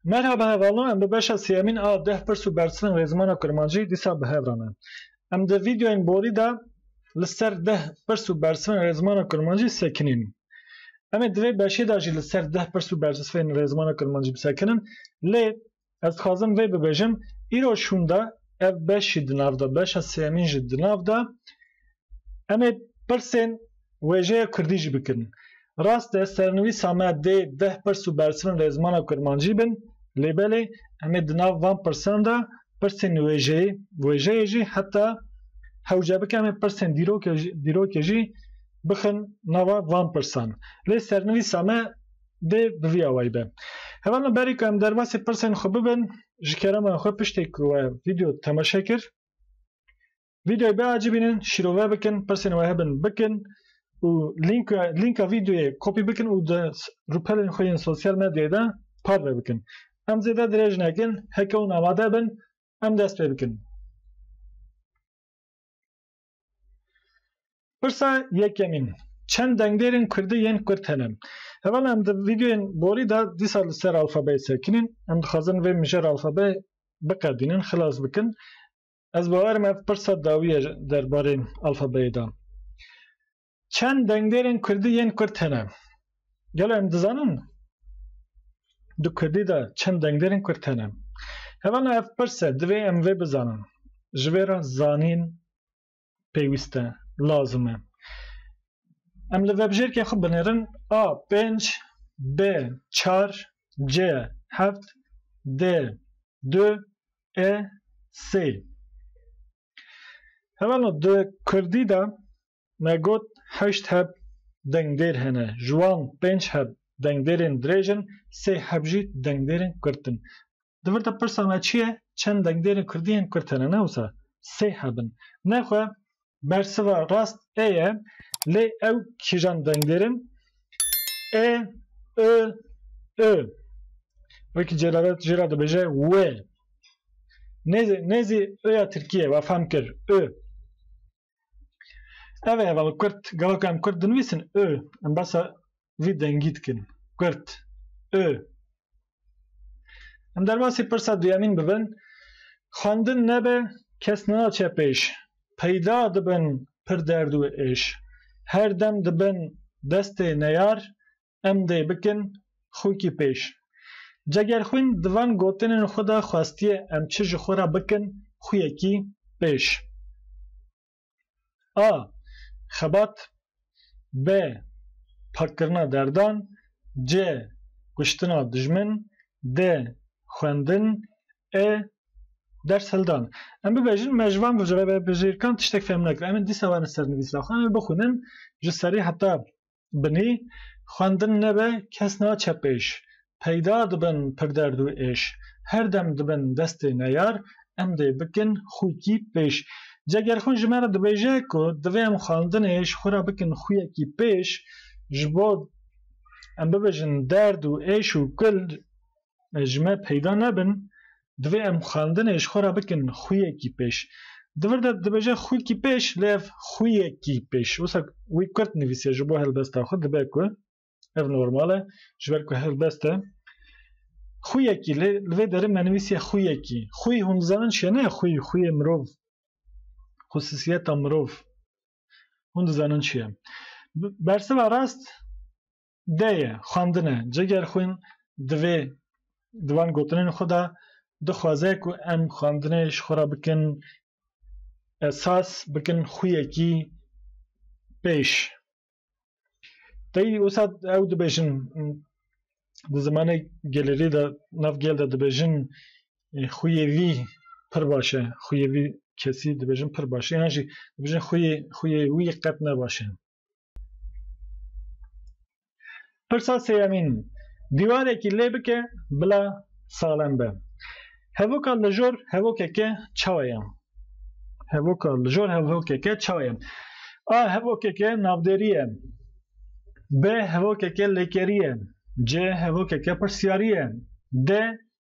Merhaba hevalno em bi beşa sêyemîn a deh pirs û bersivan rê zimana kurmancî dîsa bi hev re ne. Em di vîdeoyên borî de li ser deh pirs û bersivan rê zimana kurmancî sekinîn. Em ê di vê beşê de jî li ser deh pirs û bersisvên rê zimana kurmancî bisekinin lê Ez dixwazim vê bibêjim, îro şûn de ev beş jî di nav de, beşa sêyemîn jî di nav de em ê pirsên wêjeya kurdî jî bikirin. Rast e sernivîsa me dê deh pirs û bersivin lê zimana kurmancî bin lê belê em ê di nav van pirsan de pirsên wêjeyê wêjeyê jî heta hewce bike em ê pirsên dîrokê dîrokê jî bixin nava van pirsan. Lê sernivîsa me dê bi vî awayî be. Heval me berî ku em derbasî pirsên xwe bibin ji kerema xwe piştê ku we vîdeo temaşe kir vîdeoyê biacîbînin şîrove bikin pirsên we hebin bikin û lînka lînka vîdeoyê kopî bikin û di rûpelên xwe yên sosyal medyayê de parve bikin. Em zêde dirêj nekin heke hûn amade bin em dest pê bikin. Pirsa yekemîn Çend dengdêrên kurdî yên kurd hene? Heval em di vîdeoyên borî de dîsa li ser alfabeyê sekinîn. Em dixwazin vê mijar alfabeyê biqedînin, xilas bikin. Ez bawerim ev pirsa dawî ye derbarê alfabeyê de. Çend dengdêrên kurdî yên kurd hene? Gelo em dizanin di kurdî de çend dengdêrên kurd hene? Hevana ev pirs e, divê em vê bizanin. Ji vê re zanîn pêwîst e, lazim e. Em li vebijêrkên xwe binêrin A pênc, B çar, C heft, D du, E sê. Hevano di kurdî de Me got heşt heb dengdêr hene, ji wan pênc heb dengdêrên dirêj in, sê heb jî dengdêrên kurt in. Di vir de pirsa me çi ye, çend dengdêrên kurdî yên kurt hene? Ne wisa, sê heb in. Nexwe bersiva rast ê ye, lê ew kîjan dengdêr in? Ê, i, i. Wekî Celalet jê re dibêje wê. Nêzî, nêzî i ya tirkî ye, we fehm kir, i. Ev ê bal kurt gelo em kurt dinivîsin û em basa vî dengî dikin kurt û em derbasî pirsa duyemîn bibin xwendin nebe kes nenaçe pêş peyda dibin pir derd û êş her dem dibin destê neyar em dê bikin xûkî pêş. Ceger xwîn di van gotinên xwe de xwestiye em çi ji xwe re bikin xûyekî pêş. A. Xebat B. Pakkirina derdan C. Kuştina dijmin D. Xwendin E. Ders hildan. Em bibêjin me ji van vejirkan tiştek fêhm nekir. Em ê dîsa werin ser nivîsa xwe em ê bixwînin ji serî heta Binî, xwendin nebe kes naçe pêş, peyda dibin pirderd û êş, her dem dibin destê neyar, em dê bikin xwikî pêş. Ca ger xwe ji me re dibêje ku divê em xwendinê ji xwe re bikin xwiyekî pêş, ji bo em bibêjin derd û êş û kul ji me peyda nebin, divê em xwendinê ji xwe re bikin xwiyekî pêş. Di vir de dibêje xwîkî pêş lê ev xwiyekî pêş. Wisa wî kurt nivîsiye ji bo helbesta xwe dibe ku ev normal e ji ber ku helbest e. Xwiyekî lê li vê derin me nivîsiye xwiyekî. Xwî hûn dizanin çi ye ne xwî xwiyê mirov xusisiyeta mirov hûn dizanin çi ye. Bersiva rast De ye, xwendin e. Cigerxwîn di vê di van gotinên xwe de dixwaze ku em xwendinê ji xwe re bikin esas, bikin xwiyekî pêş. Tey wisa ew dibêjin di zimanê gelêrî de nav gel de dibêjin xwiyê vî pir baş e, xwiyê vî kesî dibêjin pir baş e yan jî dibêjin xwiyê xwiyê wî qet ne baş e. Pirsa sêyemîn, dîwarekî lê bike bila salem be. Hevoka lijor hevokeke çawa ye? Hevoka lijor hevokeke çawa ye? A. Hevokeke navdêrî ye. B. Hevokeke lêkerî ye. C. Hevokeke pirsiyarî ye. D.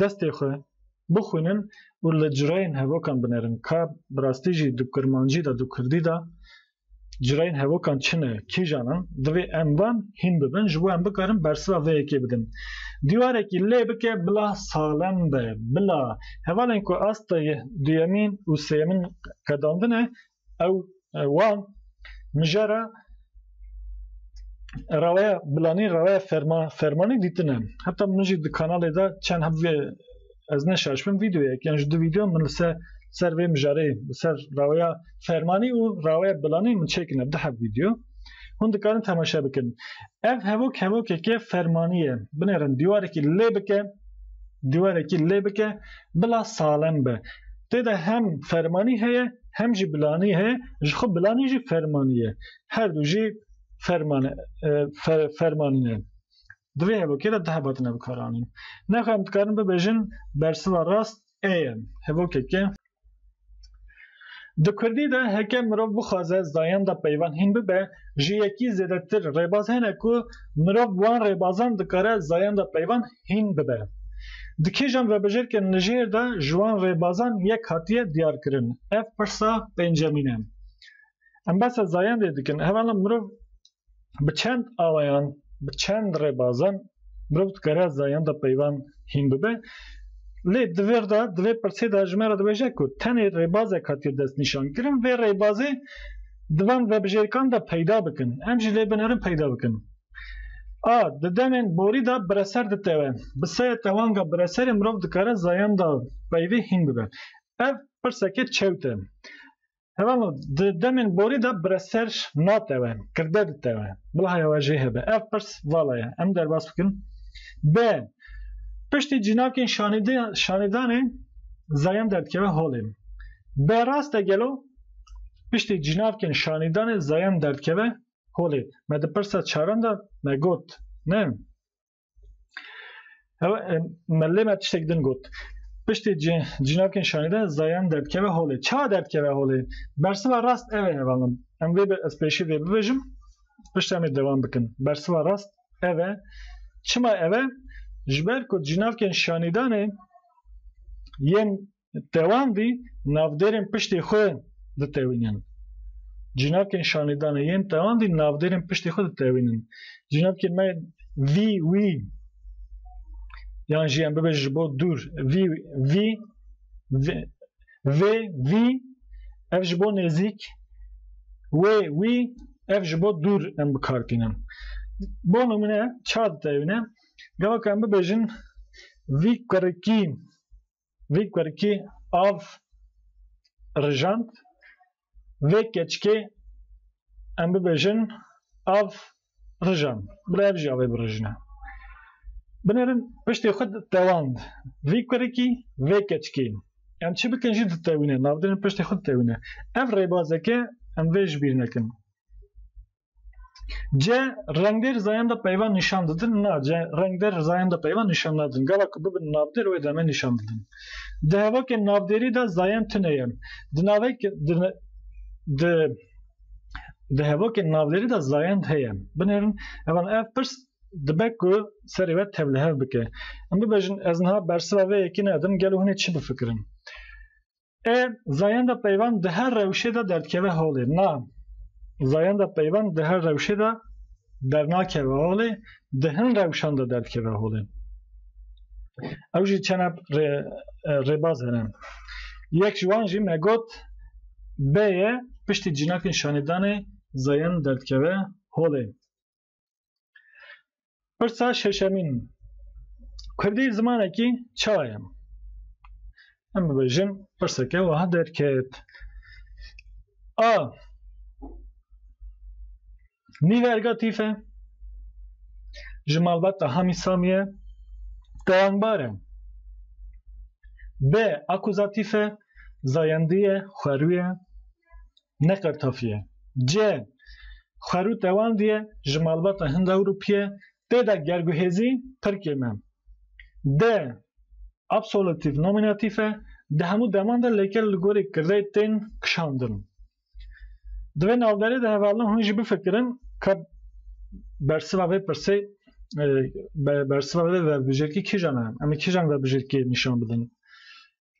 destê xwe bixwînin û li cureyên hevokan binerin ka bi rastî jî di kurmancî de di kurdî de cureyên hevokan çi ne, kîjan in, divê em van hîn bibin ji bo em bikarin bersiva vê yekê bidin. Dîwarekî lê bike bila salem be, bila hevalên ku asta duyemîn û sêyemin qedandine Ew wan mijara rawaya bilanî rawaya ferma fermanî dîtine. Heta min jî di kanalê de çend hem vê ez ne şaşbim vîdeoyek yan ji du vîdeo min li ser ser vê mijarê li ser rawaya fermanî û rawaya bilanî min çêkine di hev vîdeo. Hûn dikarin temaşe bikin. Ev hevok hevokeke fermanî ye. Binêrin dîwarekî lê bike dîwarekî lê bike bila salem be. Tê de hem fermanî heye hem jî bilanî he, ji xwe bilanî jî fermanî ye. Her du jî ferman fermanî ne. Di vê hevokê de du hebat ne bikaranîn. Nexwe em dikarin bibêjin bersiva rast ê ye. Hevokeke Di Kurdî de heke mirov bixwaze zayenda peyvan hîn bibe, ji yekî zêdetir rêbaz hene ku mirov bi wan rêbazan dikare zayenda peyvan hîn bibe. Di kêjan rebejêrkên li jêr de ji wan rêbazan yek hatiye diyarkirin. Ev pirsa pêncemîn e. Em behsa zayendê dikin. Hevala mirov bi çend awayan, bi çend rêbazan mirov dikare zayenda peyvan hîn bibe. Lê di vir de, di vê pirsê de ji me re dibêje ku tenê rêbazek hatiye destnîşankirin. Vê rêbazê di van rebijêrkan de peyda bikin. Em jî lê binerin peyda bikin. A. Di demên borî de bireser ditewe. Bi seyê tewanga bireserê mirov dikare zayenda peyvê hîn bibe. Ev pirseke çewt e. Heval o, di demên borî de bireser natewe, kirde ditewe. Bila heya we jê hebe. Ev pirs vala ye. Em derbas bikin. B. Piştî cînakên şanîdê şanîdanê zayend derdikeve holê. B. Rast e gelo piştî cînakên şanîdanê zayend derdikeve Holê, me di pirsa çaran de me got, ne? Ew me lê me tiştek din got. Piştê cin, cinavkên şanê de zayan derdkeve holê. Çawa derdkeve holê? Bersiva rast ev e hevalin. Em vê bi ez pêşî vê bivejim, pişt em ê devam bikin. Bersiva rast ev e. Çima ev e? Ji ber ku cinavkên şanêdanê yên Dewan dî navdêrên piştê xwe ditewînin. Cînakên şanîdanê yên dewan dî navdêrên piştê xwe ditewînin. Cînakên me vî, wî yan jî em bibêjin ji bo dûr vî, vî, vê, vî ev ji bo nêzîk wê, wî ev ji bo dûr em bi kar tînin. Bo nimune ça ditewîne? Gava ku em bibêjin vî kurikî vî kurikî av rijand, vê keçikê em bibêjin av rijand. Bila ev jî avê birijine. Binêrin piştê xwe ditewand. Vî kurikî, vê keçikî. Em çi bikin jî ditewîne. Navdinên piştê xwe ditewîne. Ev rêbazeke em vê ji bîr nekin. C. Rengdêr zayenda peyva nîşan didin Na C. Rengdêr zayenda peyva nîşan nadin. Gava ku bibin navdêr wê demê nîşan didin. Di hevokên navdêrî de zayend tune ye. Di navek di di di hevokên navdêrî de zayend heye. Binêrin hevan ev pirs dibe ku serê we tevlihev bike. Em bibêjin ez niha bersiva vê yekî nedim gelo hûnê çi bifikirin. E, zayenda peyvan di her rewşê de derdikeve holê. Na, zayenda peyvan di her rewşê de dernakeve holê, di hin rewşan de derdikeve holê. Ew jî çene rê, e, rêbaz hene. Yek ji wan jî me got bê ye piştî cînakên şanêdanê zayen derdikeve holê. Pirsa şeşemîn Kurdî zimanekî ça ye? Em bibêjin pirseke wiha derket. A. Nîverga tîf e. Ji malbata Hamî Samî ye. Tewangbar e. B. Akuzatîf e. Zayendî ye, xwerû ye. ne qertafiye. Cê, xwerû tewam diye ji malbata Hind-Ewrûpiye tê de gerguhêzî pir kêm e. Dê, absolutîf nomînatîf e, di hemû deman de lêker li gorî kirdê tên kişandin. Di vê navberê de hevalin hûn jî bifikirin ka bersiva vê pirsê bersiva vê vebijêrkî kîjan e? Em ê kîjan vebijêrkiyê nîşan bidin?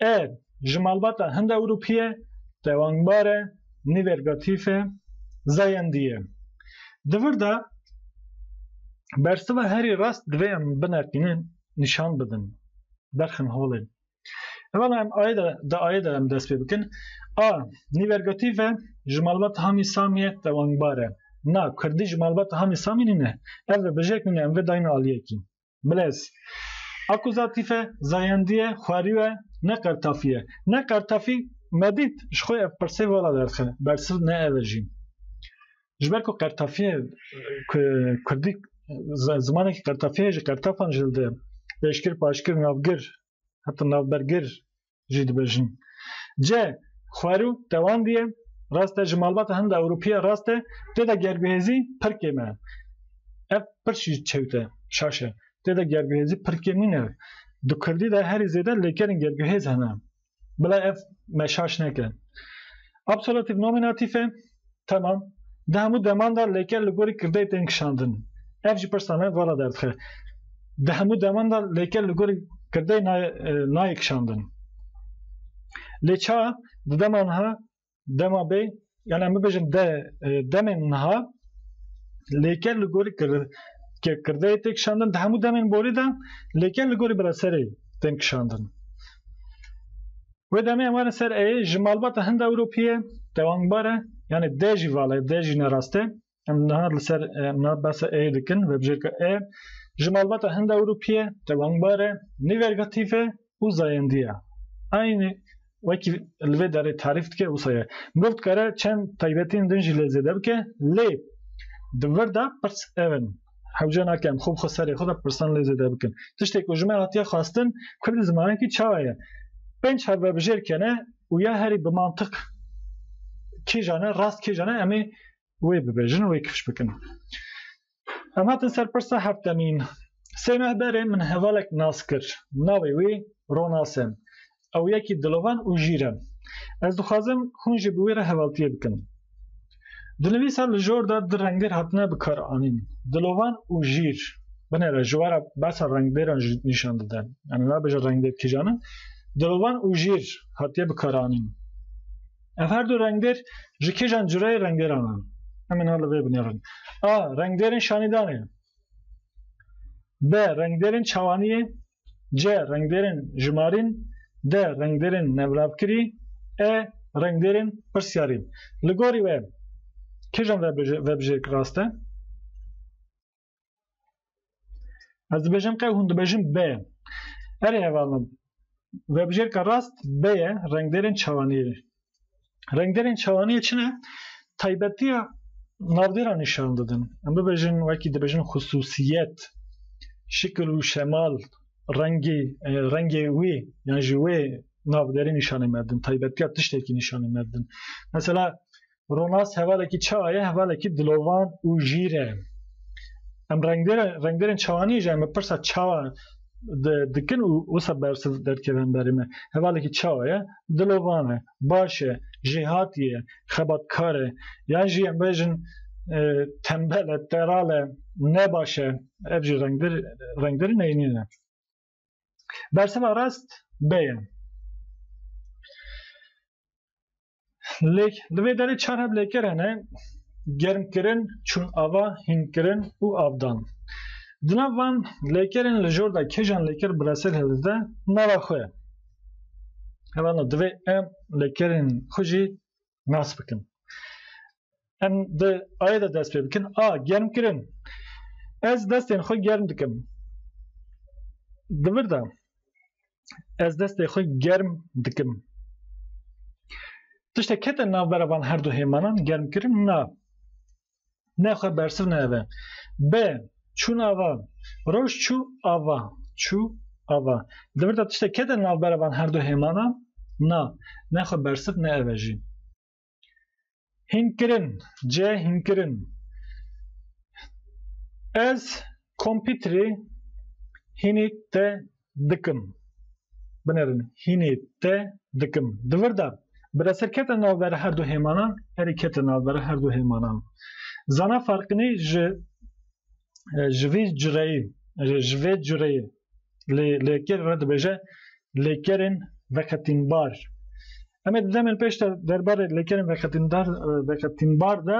Er, ji malbata Hind-Ewropî ye, tewangbar e, nîvergatîf e, zayendî ye. Di vir de bersiva herî rast divê em bineqînin, nîşan bidin, berxin holê. Evala em ayê de di ayê de em dest pê bikin. A, nîvergatîf e, ji malbata Hamî Samî ye, tewangbar e. Na, kurdî ji malbata Hamî Samî nîne. Ev vê bijek nîne, em vê dayîne aliyekî. Bilez. Akuzatîf e, zayendî ye, xwerî e, ne qertafî ye. Ne qertafî, me dît, ji xwe ev pirsê vala derxe, bersiv ne ev e jî. Ji ber ku qertafî ye, ku kurdî zimanekî qertafî ye, ji qertafan ji li dide ye. Pêşgir, paşgir, navgir, heta navbergir, jî dibêjin. Cê, xwerû, dewandiye, rast e ji malbata hin de ewropiya rast e, tê de gerbihêzî pir kêm e. Ev pir jî çewt e, şaş e. Tê de gerbihêzî pir kêm nîne. Di kurdî de herî zêde lêkerên gerbihêz hene. Bila ev me şaş neke. Absolatîf nominatîf e. Temam. Di hemû deman de lêker li gorî kirdeyê tên kişandin. Ev jî pirsa me vala derdixe. Di hemû deman de lêker li gorî kirdeyê nayê, nayê kişandin. Lê ça di dema niha dema bê yani em bibêjin de demên niha lêker li gorî kir, ke kirdeyê tê kişandin di hemû demên borî de lêker li gorî bila serê tên kişandin. Wê demê em werin ser ey ji malbata Hinda Ewropî ye, tewangbar e, yanê de jî vala ye, de jî ne rast e. Em niha li ser em niha behsa ey dikin, vebijêrka e ji malbata Hinda Ewropî ye, tewangbar e, nîvergatîf e û zayendî ye. Aynî wekî li vê derê tarîf dike wisa ye. Mirov dikare çend taybetiyên din jî lê zêde bike lê di vir de pirs ev in. Hewce nake em xwe bi xwe serê xwe de pirsan lê zêde bikin. Tiştê ku ji me hatiye xwestin Kurdî zimanekî çawa ye? Pênc hevbebijêr kene û ya herî bi mantiq kêjan e, rast kêjan e em ê wê bibêjin, wê kifş bikin. Em hatin ser pirsa heftemîn. Sê meh berê min hevalek nas kir. Navê wî Ronas e. Ew yekî dilovan û jîr e. Ez dixwazim hûn jî bi wî re hevaltiyê bikin. Dinivîsa li jor de du rengêr hatine bikaranîn, dilovan û jîr. Binêre ji we re behsa rengdêran jî nîşan dide. Yani nabêje rengdêr kîjan in. Dilovan û jîr hatiye bikaranîn. Ev her du rengdêr ji kîjan cureyê rengêran in? Em ê niha li vê binêrin. A. Rengdêrên şanîdanê. B. Rengdêrên çawaniyê C. Rengdêrên jimarîn D. Rengdêrên nevravkirî E. Rengdêrên pirsyarî Li gorî we kîjan vebijêrk rast e? Ez dibêjim qe hûn dibêjin B. Erê hevalno vebijêrka rast B ye rengdêrên çawanî Rengderên çawaniyê çi ne? Taybetiya navdêra nîşan didin. Em bibêjin wekî dibêjin xusûsiyet, şikil û şemal, rengê rengê wê yan ji wê navderê nîşanê me didin. Taybetiya tiştekî nîşanê me didin. Mesela Ronas hevalekî çawa ye, hevalekî dilovan û jîr e. Em rengdêrên rengdêrên çawaniyê ji em bi pirsa çawa dikin û wisa bersiv derkevin berê me. Hevalekî çawa ye, dilovan e, baş e, jêhatî ye, xebatkar e yan jî em bêjin tembel e, teral e, ne baş e ev jî rengdir rengdir neynî ne. Bersiva rast bê ye. Lêk li vê derê çar heb lêker hene germkirin, çûn ava, hînkirin û avdan. Di nav van lêkerên li jor de kêjan lêker bi resel hilde nava xwe ye. Hemen divê em lêkerên xwe jî nas bikin. Em di ayê de dest pê bikin a germkirin. Ez destên xwe germ dikim. Di vir de ez destê xwe germ dikim. Tiştek kete navbera van her du hêmanan germkirin na. Ne xwe bersiv nebe. Be, çûn ava. Roj çû ava. Çû ava. Di vir de tiştek kete navbera van her du hêmanan? Na. Ne xwe bersiv nebe jî. Hînkirin, ce hînkirin. Ez kompîterê hînî te dikim. Binerin hînê te dikim. Di vir de bi reser ketin navbera her du hêmanan, herî ketin navbera her du hêmanan. Zana farqinî ji ji vî cureyî ji vê cureyî lê lêker re dibêje lêkerên veqetînbar. Em ê di demên pêş de derbarê lêkerên veqetîndar veqetînbar de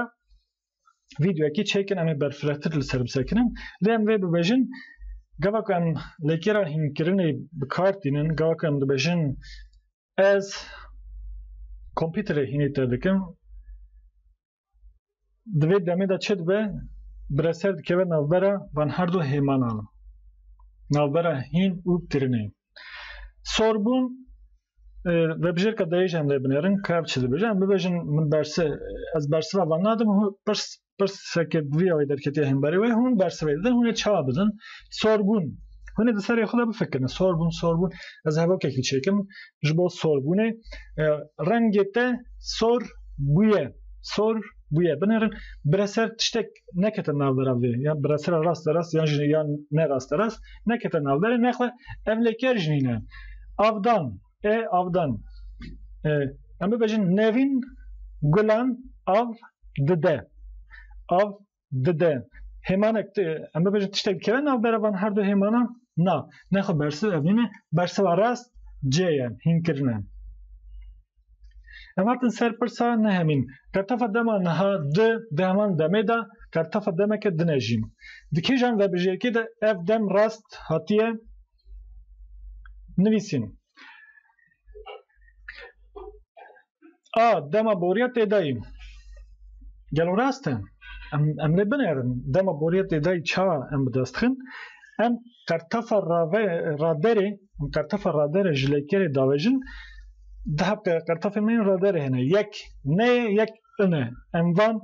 Vîdyoyekî çêkin em ê berfirehtir li ser bi ser kirin. Lê em vê bibêjin gava ku em lêkêra hînkirinê bi kar tînin, gava ku em dibêjin ez kompîterê hînê te dikim di vê demê de çi dibe bireser dikeve navbera van her du hêmanan navbera hîn û tirinê. Sorbûn Vebijêrka dayêj em lê binêrin kevç dibêje em bibêjin min bersi ez bersiva van nadim pirs pirseke bi vî awê derketiye hemberê wê hûn bersivê didin hûnê çawa bidin sorbûn hûnê di serê xwe de bifikirin sorbûn sorbûn ez hevokekî çêkim ji bo sorbûnê rengê te sor bûye sor bûye binêrin bireser tiştek nekete navbera vê ya biresera rast de rast yan jî yan ne rast de rast nekete navberê nexwe ev lêker jî nîne avdan e avdan e, em bibêjin nevîn gulan av dide av dide hêmanek em bibêjin tiştek dikeve navbera van her du hêmanan na nexwe bersiv ev nîne bersiva rast cê ye hînkirine Em hatin ser pirsa nehemîn, Kertefa dema niha di di heman demê de kertefa demeke din e jî. Di kêjan vebijêrkê de ev dem rast hatiye nivîsîn. A dema boriya têdayî. Gelo rast e? Em em lê binerin dema boriya têdayî ça em bi dest dixin? Em kertefa rave raderê Qertefa radere ji leykerê davejin di heft qertefên me yên raderê hene. Yek neyê yek in e. Em van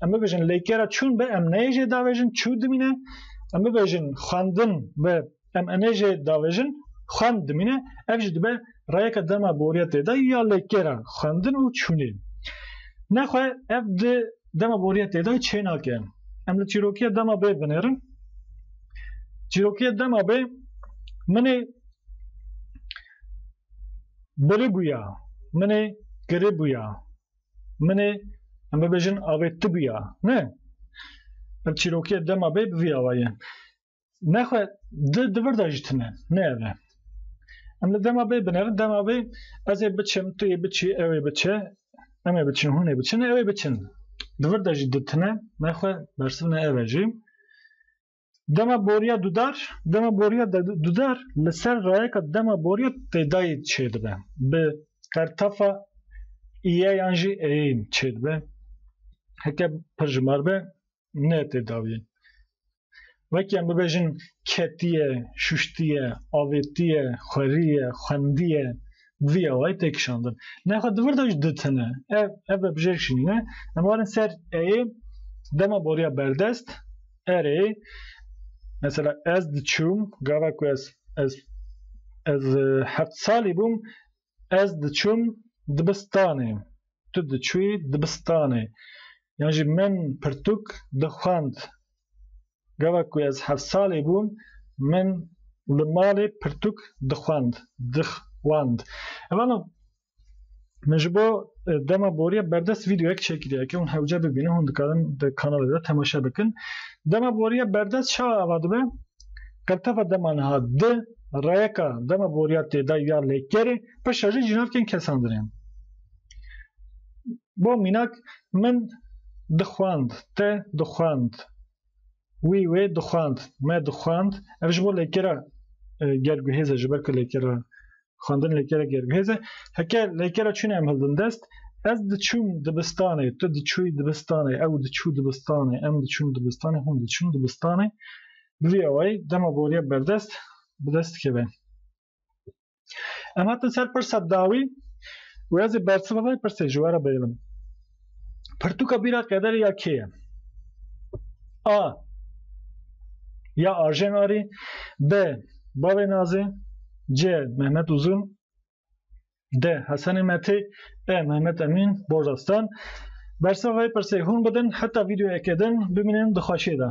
em bibêjin leykera çûn be em neyê jê davejin çû dimîne. Em bibêjin xwendin be em inê jê davejin xwend dimîne. Ev jî dibe rayeke dema boriya têda ya leykera xwendin û çûnê. Nexwe ev di dema boriya têda çê nake. Em li çîrokiya dema bê binêrin. Çîrokiya dema bê minê biri bûya, minê kiri bûya, minê em bibêjin avê ti bûya. Ne. Ev çîrokiya dema bê bi vî awa ye. Nexwe di di vir de jî tune ne ev e. Em li dema bê binevin dema bê ez ê biçim tu yê biçî ew ê biçe em ê biçin hûn ê biçin ew ê biçin. Di vir de jî di tune nexwe bersivne ev e jî. Dema boriya dudar, dema boriya dudar li ser rayeka dema boriya têdayî çê dibe. Bi qertefa îye yan jî êyê çê dibe. Heke pirjimar be ne tedavî. Wek em bibêjin ketiye, şuştiye, avêtiye, xweriye, xwendiye, vî awayî tê kişandin. Nexwe di vir de jî ditine. Ev ev bi bijêr şînîne. Em warin ser ê dema boriya berdest erê mesela ez diçûm gava ku ez ez ez heft salî bûm Ez diçûm dibistanê, tu diçûyî dibistanê yan jî min pirtûk dixwend. Gava ku ez heft salî bûm min li malê pirtûk dixwend, dixwend. Evana min ji bo dema boriya berdest vîdeoyek çêkiriye ke hûn hewce bibînin, hûn dikarin di kanalê de temaşe bikin. Dema boriya berdest çawa ava dibe? Qirtefa dema niha di, rayeka dema boriya têday ya lêkerê bi şerî ji nav tên kesandinê. Bo mînak min dixwand, te dixwand, wî wê dixwand, me dixwand, ev ji bo lêkera ger guhêz e ji ber ku lêkera xwendin lêkere germhêz e heke lêkere çûnê em hildin dest ez diçûm dibistanê tu diçû dibistanê ew diçû dibistanê em diçûn dibistanê hûn diçûn dibistanê bi vî awayî dema boriya berdest bi dest dikeve em hatin ser pirsa dawî wê ez ê bersiva vê pirsê ji we re bêlim Pirtûka bîra qederê ya kê ye? A. Ya Arjen Arî B. Bavê Nazê C. Mehmet Uzun D. Hesenê Metê E. Mehmet Emîn Borda Stan Bersa vê pirsê hûn bidin heta vîdeoyekê din bimînin di xweşiyê de.